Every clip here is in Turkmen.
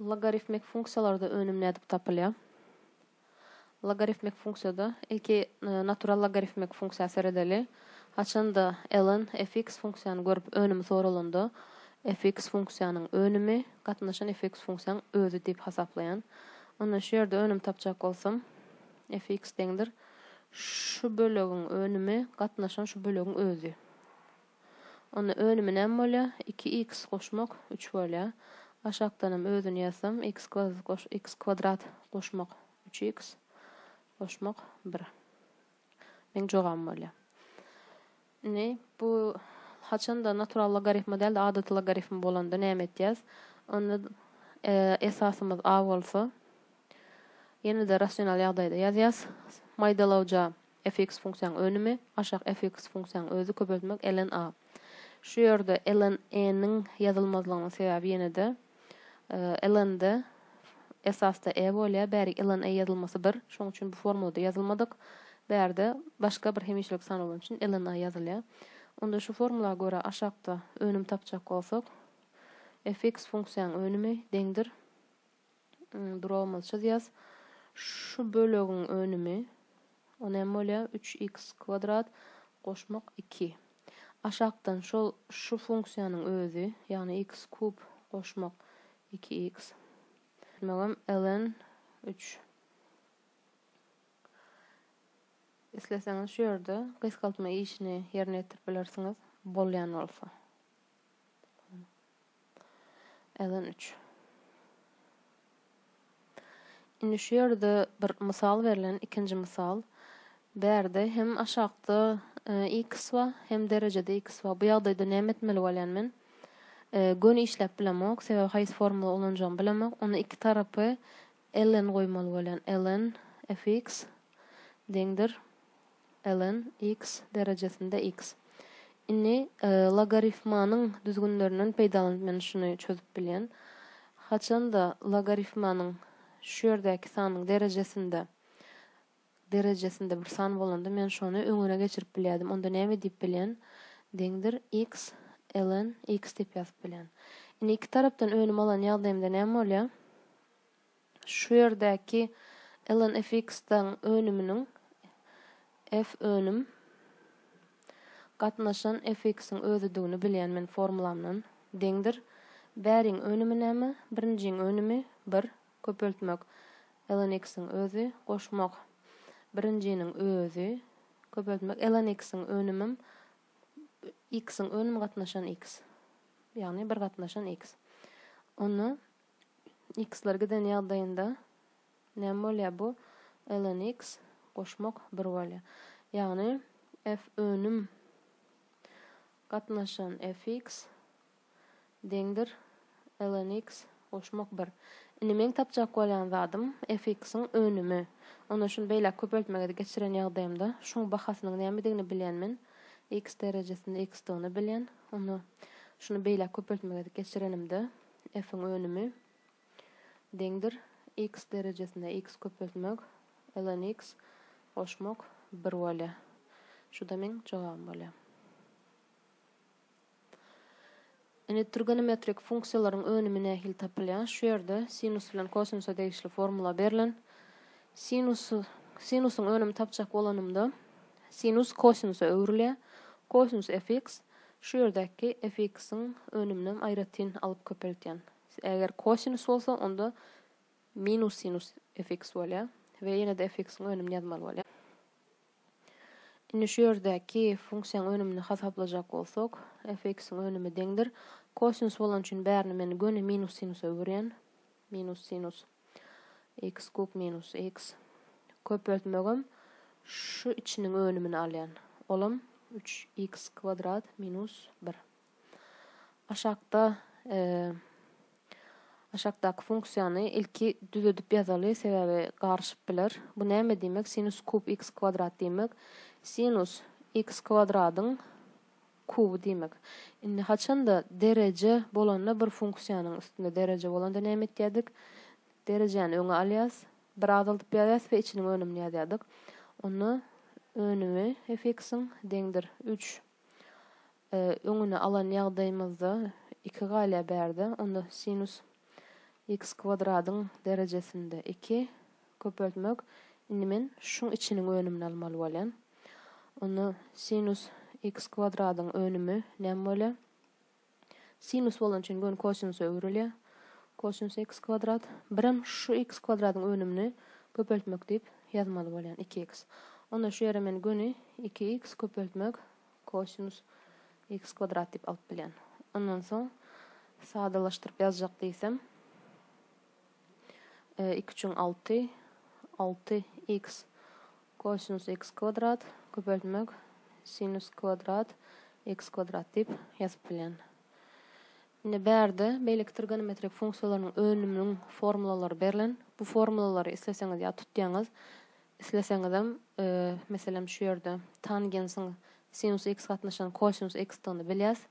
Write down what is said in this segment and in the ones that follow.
Logarifmik funksiýalarda önüm nädip tapylýar? Logarifmik funksiýada ilki natural logarifmik funksiýa seredeli. Haçanda ln fx funksiýany görüp önümi soralanda, fx funksiýanyň önümi gatnaşan fx funksiýaň özi diýip hasaplaýan. Onda şu ýerde önüm tapjak bolsam, fx deňdir şu bölegiň önümi gatnaşan şu bölegiň özi. Onda önümi näme bolýa? Iki iks goşmak üç bolýa. Aşakdanam özüni ýazsam, iks kwadrat goş iks kwadrat goşmak üç iks goşmak bir. Meň jogabym bolýa. Indi bu haçanda natural logarifma däl-de adaty logarifm bolanda näme etýäs? Onda esasymyz a bolsa, ýene-de rasional ýagdaýda ýazýas. Maýdalawja. Fx funksiýanyň önümi, aşak Fx funksiýanyň özi köpeltmek ln a. Şu ýerde ln e-niň ýazylmazlygynyň sebäbi ýene-de, ln-de esasda e bolýar, bärik ln e ýazylmasy bir, şonuň üçin bu formulada ýazylmadyk, bärde başga bir hemişelik san bolany üçin ln a ýazylýar. Onda şu formula görä aşakda önüm tapjak bolsak, Fx funksiýanyň önümi deňdir, Duragymyzy çyzýas. Şu bölegiň önümi o näme bolýar? Üç iks kwadrat goşmak iki. Aşakdan şol şu funksiýanyň özi, ýagny iks kub goşmak iki iks. Diýmegem ln üç. Isleseňiz şu ýerde gysgaltma işini ýerine ýetirip bilersiňiz, bolýan bolsa. Eden üç. Indi şu ýerde bir mysal berlen, ikinji mysal. Bärde hem aşakda x ba, hem derejede x ba. Bu ýagdaýda näme etmeli bolýan men? Göni işläp bilemok, sebäbi haýsy formula ulanjagymy bilemok. Onda iki tarapy Ln goýmaly bolýan ln fx deňdir ln x derejesinde x. Indi logarifmanyň düzgünlerinden peýdalanyp men şuny çözüp bilýän. Haçanda logarifmanyň şu ýerdäki sanyň derejesinde derejesinde bir san bolanda men şony öňüne geçirip bilýärdim, onda näme diýip bilýän, deňdir, x, ln, x diýip ýazyp bilýän. Indi iki tarapdan önüm alan ýagdaýymda näme bolýar? Şu ýerdäki ln fx-iň önüminiň f önüm gatnaşan fx-iň özüdigini bilýän men formulamdan, deňdir, bäriň önümi näme? Birinjiň önümi, bir, Köpeltmek, Elaniks-iň özi, goşmak, birinjiniň özi, köpeltmek, Elaniks-iň önümim, X-iň önüm gatnaşan X, ýagny bir gatnaşan X. Onda X-ler giden ýagdaýynda näme bolýar bu? Elaniks, goşmak, bir bolýar. Ýagny F önüm gatnaşan FX, deňdir, lnx, goşmak bir. Indi meň tapjak bolýan zadym fx-iň önümi. Onda şuny beýläk köpeltmege geçiren ýagdaýymda şuň bahasynyň nämedigini bilýän men, x derejesinde x-dygyny bilýän. Onda şuny beýläk köpeltmege geçirenimde f-iň önümi deňdir, x derejesinde x köpeltmek, lnx, goşmak bir bolýar. Şu-da meň jogabym bolýar. Indi trigonometrik funksiýalaryň önümi nähili tapylýar? Şu ýerde sinus bilen kosinusa degişli formula berlen. Sinus, sinusyň önümi tapjak bolanymda, sinus kosinusa öwrülýär. Kosinus fx, şu ýerdäki fx-iň önüminem aýratyn alyp köpeltýän. Eger kosinus bolsa, onda minus sinus fx bolýar we ýene-de fx-iň önümini ýazmaly bolýar. Indi şu ýerdäki funksiýaň önümini hasaplajak bolsak, fx-iň önümi deňdir, kosinus bolany üçin bärini men göni minus sinusa öwürýän, minus sinus x kub minus x, köpeltmegem şu içiniň önümini alýan, olam üç x kwadrat minus bir. Aşakda Aşakdaky funksiýany ilki düzedip ýazaly, sebäbi garyşyp biler. Bu näme diýmek? Sinus kub x kwadrat diýmek, sinus x kwadradyň kuby diýmek. Indi haçanda dereje bolanda bir funksiýanyň üstünde dereje bolanda näme etýädik? Derejäni öňe alýas, biri azaldyp ýazýas we içiniň önümini ýazýardyk. Onda önümi f-iň deňdir üç. öňüni alan ýagdaýymyzda iki galýar bärde, onda sinus x kwadradyň derejesinde iki köpeltmek, indi men şuň içiniň önümini almaly bolýan. Onda sinus x kwadradyň önümi näme bolýar? Sinus bolan üçin göni kosinusa öwrülýär. Kosinus x kwadrat. Birem şu x kwadradyň önümini köpeltmek diýip ýazmaly bolýan, iki x. Onda şu ýere men göni iki x köpeltmek Kosinus x kwadrat diýip alyp bilýän. Ondan soň sadalaşdyryp ýazjak diýsem. E, iki üçin alty. Alty x kosinus x kwadrat köpeltmek sinus kwadrat x kwadrat diýip ýazyp bilýän. Indi bärde beýleki trigonometrik funksiýalarynyň önüminiň formulalary berlen. Bu formulalary isleseňiz ýa tutýaňyz, Isleseňizem, meselem, şu ýerde tangensiň sinus x gatnaşan kosinus x-dygyny bilýäs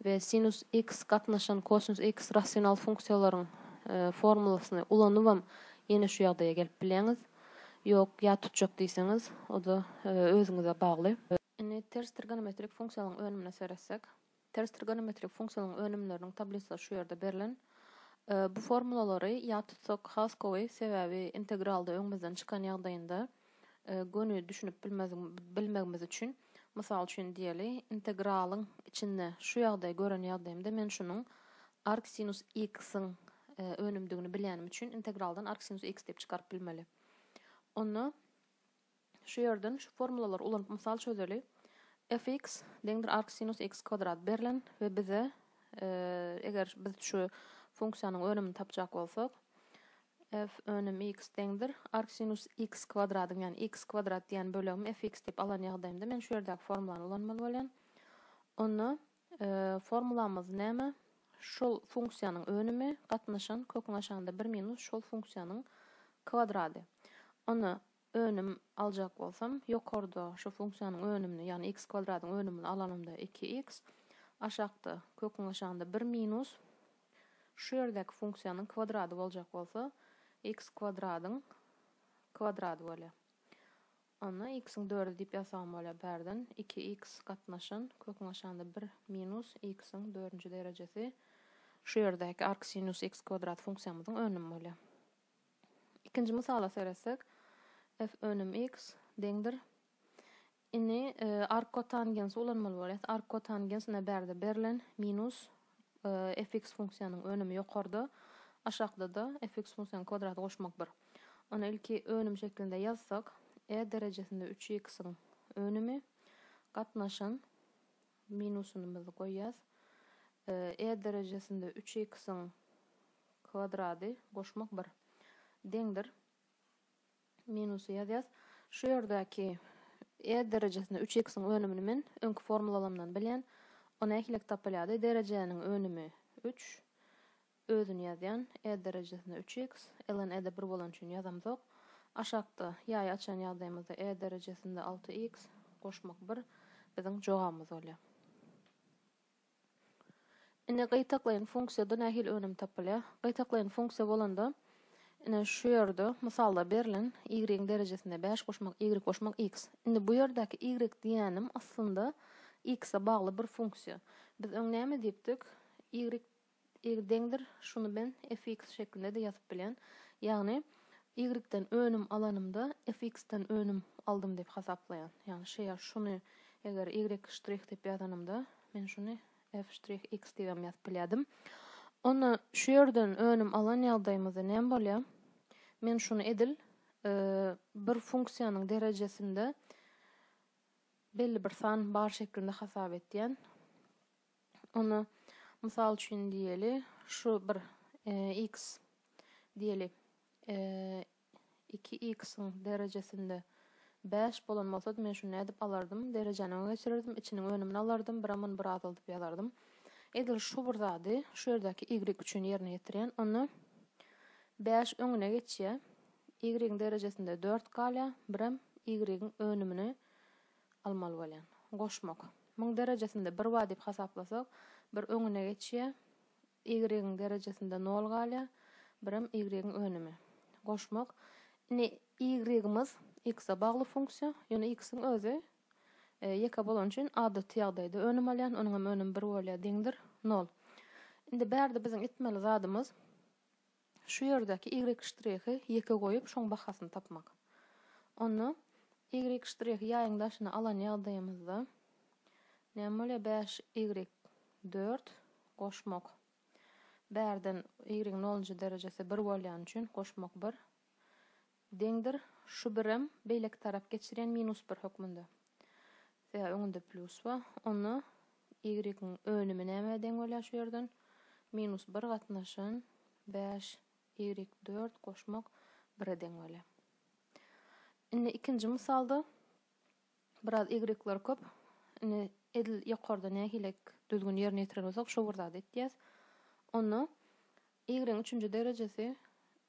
we sinus x gatnaşan kosinus x rasional funksiýalaryň formulasyny ulanybam ýene şu ýagdaýa gelip bilýäňiz. Ýok, ýat tutjak diýseňiz, o-da özüňize bagly. Indi ters trigonometrik funksiýalaryň önümine seretsek. Ters trigonometrik funksiýalaryň önümleriniň tablisasy şu ýerde berlen. Bu formulalary ýat tutsak has gowy, sebäbi integralda öňümizden çykan ýagdaýynda göni düşünip bilmegimiz üçin, mysal üçin diýeli, integralyň içinde şu ýagdaýy gören ýagdaýymda men şunuň arcsinus x-iň önümdigini bilýänim üçin integraldan arcsinus x diýip çykaryp bilmeli. Onda. Şu ýerden şu formulalary ulanyp mysal çözeli, Fx deňdir arcsinus x kwadrat berlen we bize eger biz şu funksiýanyň önümini tapjak bolsak, f önüm x deňdir arcsinus x kwadradyň, ýagny x kwadrat diýen bölegimi fx diýip alan ýagdaýymda men şu ýerdäki formulany ulanmaly bolýan. Onda Formulamyz näme? Şol funksiýanyň önümi gatnaşan köküň aşagynda bir minus şol funksiýanyň kwadrady. Ony önüm aljak bolsam, ýokarda şu funksiýanyň önümini, ýagny x kwadradyň önümini alanymda iki x, aşakda, köküň aşagynda bir minus şu ýerdäki funksiýanyň kwadrady boljak bolsa, x kwadradyň kwadrady bolýar. Onda x-iň dördi diýip ýazsagam bolýar bärden. Iki x gatnaşan, köküň aşagynda bir minus x-iň dördünji derejesi şu ýerdäki arcsinus x kwadrat funksiýamyzyň önümi bolýar. Ikinji mysala seretsek, f önüm x deňdir. Indi arckotangens ulanmaly bolýar. Arckotangens ine bärde berlen, minus fx funksiýanyň önümi ýokarda, aşakda-da fx funksiýanyň kwadraty goşmak bir. Ony ilki önüm şeklinde ýazsak, e derejesinde üç x-iň önümi gatnaşyn minusynymyzy goýýas, e derejesinde üç x-iň kwadrady goşmak bir, deňdir. Minusy ýazýas. Şu ýerdäki E derejesinde üç x-iň önümini men öňki formulalamdan bilýän. O nähilek tapylýardy? Derejäniň önümi üç. Özüni ýazýan. E derejesinde üç x. Ln E-de bir bolany üçin ýazamzok. Aşakda ýaýy açan ýagdaýymyzda E derejesinde alty x. Goşmak bir. Biziň jogabymyz bolýar. Indi gytaklaýyn funksiýada nähili önüm tapylýar? Gytaklaýyn funksiýa bolanda, ine şu ýerde mysalda berlen y-yň derejesine bäş goşmak, y goşmak x. Indi bu ýerdäki y diýýänim aslynda x-e bagly bir funksiýa. Biz öň näme diýipdik? Y Y deňdir, şuny men fx şeklinde-de ýazyp bilýän. Ýagny, y-den önüm alanymda fx-den önüm aldym diýip hasaplaýan. Ýagny, şeýa şuny eger y ştrih diýip ýazanymda, men şuny f ştrih x diýip hem ýazyp bilýärdim. Onda şu ýerden önüm alan ýagdaýymyzda näme bolýar? Men şuny edil bir funksiýanyň derejesinde belli bir san bar şeklinde hasap etýän. Ony, mysal üçin diýeli, şu bir x diýeli, iki x-iň derejesinde bäş bolan bolsady, men şuny nädip alardym? Derejäni öňe geçirerdim, içiniň önümini alardym, biram muny bir azalyp ýazardym. Edil şu bir zady şu ýerdäki y üçin ýerine ýetirýän. Onda bäş öňüne geçýär, y-iň derejesinde dört galýar, biram y-iň önümini almaly bolýan. Goşmak. Muň derejesinde bir bar diýip hasaplasak, bir öňüne geçýär, y-yň derejesinde nol galýar, birem y-yň önümi. Goşmak. Indi y-ymyz x-a bagly funksiýa, ýöne x-iň özi ýeke bolany üçin adaty ýagdaýda önüm alýan, onuň hem önümi bir bolýar, deňdir, nol. Indi bärde biziň etmeli zadymyz. Şu ýerdäki y ştrihi ýeke goýup şoň bahasyny tapmak. Onda y ştrihi ýaýyň daşyna alan ýagdaýymyzda näme bolýar bäş y dört goşmak bärden y-iň nolunjy derejesi bir bolýany üçin goşmak bir Deňdir, şu birem beýleki tarap geçirýän minus bir hökmünde. Sebäbi öňünde plýus bar. Onda y-yň önümi nämä deň bolýar şu ýerden? Minus bir gatnaşyn bäş y dört goşmak bire deň bolýar. Indi ikinji mysalda Biraz y-lar köp. Indi edil ýokarda nähili düzgün ýerine ýetiren bolsak, şo bir zady etýäs. Onda y-yň üçünji derejesi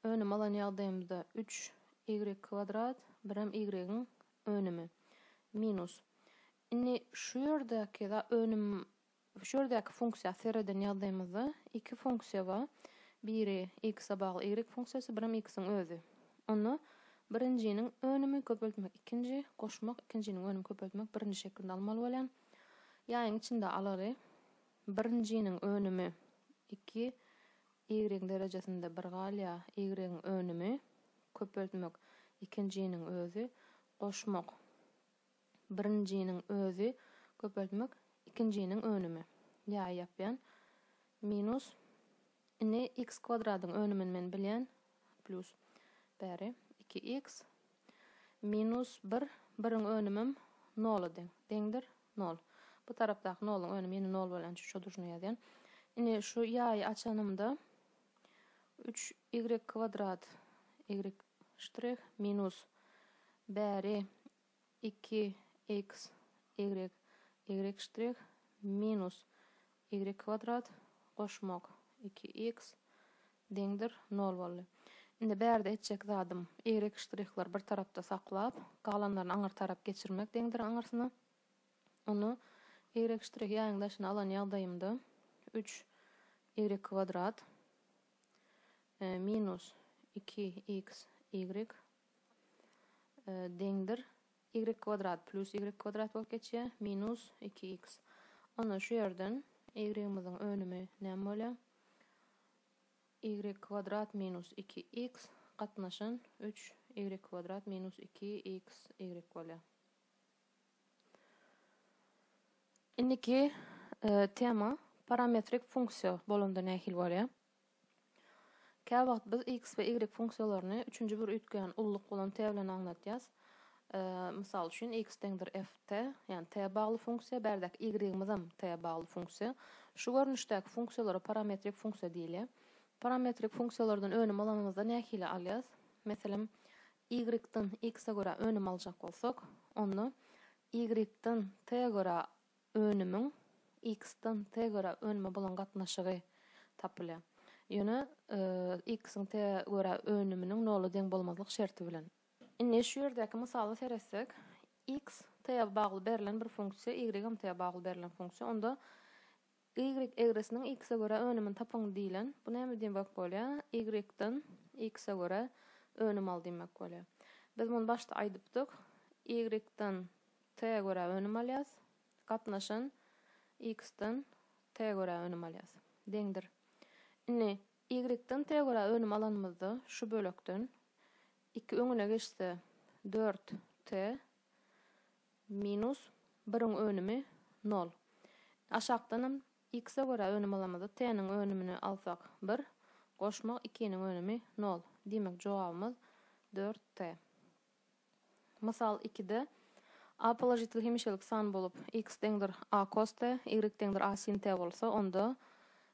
önüm alan ýagdaýymyzda üç y kwadrat, birem y-yň önümi, minus. Indi şu ýerdäki za önüm Şu ýerdäki funksiýa sereden ýazymyzda iki funksiýa bar. Biri x-e bagly y funksiýasy, birem x-iň özi. Onda birinjiniň önümi köpeltmek ikinji, goşmak ikinjiniň önümi köpeltmek birinji şeklinde almaly bolýar. Ýaýyň içinde alaly. Birinjiniň önümi iki, y-iň derejesinde bir galýar. Y-iň önümi köpeltmek ikinjiniň özi, goşmak Birinjiniň özi, köpeltmek, ikinjiniň önümi. Ýaý ýapýan. Minus. Indi x kwadradyň önümini men bilýän. Plýus. Bäri. Iki x. Minus bir. Biriň önümem nola deň. Deňdir. Nol. Bu tarapdaky noluň önümi ýene nol bolýan üçin şo duşine ýazýan. Indi şu ýaýy açanymda. Üç y kwadrat y ştrih minus bäri iki x y y ştrih minus y kwadrat goşmak iki x deňdir nol boldy. Indi bärde etjek zadym y ştrihleri bir tarapda saklap, galanlaryny aňyr tarap geçirmek deňdir aňyrsyna. Ony y ştrih ýaýyň daşyna alan ýagdaýymda üç y kwadrat minus iki iks ýigrik deňdir ýigrik kwadrat plýus ýigrik kwadrat bolup geçýär minus iki iks. Onda şu ýerden ýigrigimiziň önümi näme bolýar? Ýigrik kwadrat minus iki iks gatnaşan üç ýigrik kwadrat minus iki iks ýigrik bolýar. Indiki tema parametrik funksiýa bolanda nähili bolýar? Käwagt biz x we y funksiýalaryny üçünji bir üýtgeýän ulluk bolan t bilen aňladýas. Mysal üçin x deňdir f t, ýagny t bagly funksiýa, bärdäki y-ymyz hem t bagly funksiýa. Şu görnüşdäki funksiýalara parametrik funksiýa diýilýär. Parametrik funksiýalardan önüm alanymyzda nähili alýas? Meselem, Y-dan X-e görä önüm aljak bolsak, onda Y-dan T-e görä önümiň X-dan T-e görä önüme bolan gatnaşygy tapylýar. Ýöne X-iň T-e görä önüminiň nola deň bolmazlyk şerti bilen. Indi şu ýerdäki mysala seretsek, X T-e bagly berlen bir funksiýa, Y-am T-e bagly berlen funksiýa, onda Ýigrik egrisiniň iks-e görä önümini tapyň diýlen. Bu näme diýmek bolýar? Ýigrikden iks-e görä önüm al diýmek bolýar. Biz muny başda aýdypdyk. Ýigrikden t-e görä önüm alýas. Gatnaşan iksden t-e görä önüm alýas. Deňdir. Indi ýigrikden t-e görä önüm alanymyzda şu bölekden iki öňüne geçse dört t Minus biriň önümi nol. Aşakdanam x-e görä önüm alamyzda t-niň önümini alsak bir, goşmak ikiniň önümi nol. Diýmek jogabymyz dört t. Mysal ikide a položitel hemişelik san bolup x deňdir a kos t, y deňdir a sin t bolsa onda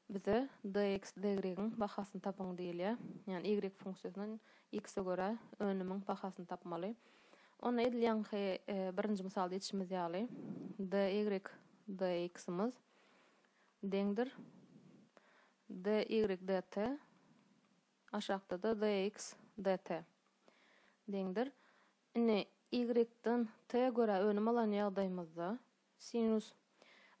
Bize DX, DY-yň bahasyny tapyň diýilýär. Ýagny Y funksiýasyndan X-e görä önümiň bahasyny tapmaly. Onda edil ýaňky birinji mysalda etişimiz ýaly DY, DX-imiz deňdir DY, DT, aşakda-da DX, DT deňdir. Indi Y-den T-e görä önüm alan ýagdaýymyzda Sinus.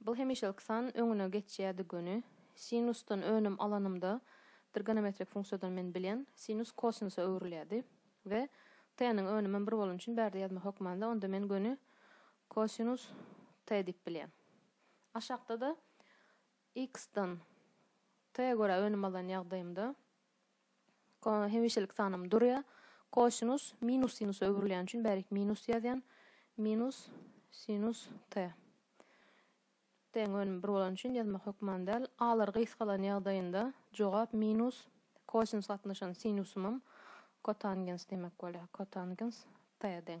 Bul hemişelik san öňüne geçýärdi göni. Sinusdan önüm alanymda trgonometrik funksiýadan men bilýän, sinus kosinusa öwrülýärdi. We t-niň önümem bir bolany üçin bärde ýazmak hökmanda onda men göni kosinus t diýip bilýän. Aşakda-da x-dan t-e görä önüm alan ýagdaýymda, Hemişelik sanym durýar. Kosinus minus sinusa öwrülýäni üçin bärik minus ýazýan. Minus sinus t. T-iň önümi bir bolany üçin ýazmak hökman däl. A-lar gysgalan ýagdaýynda jogap minus kosinus gatnaşan sinusymam kotangens diýmek bolýar. Kotangens t deň.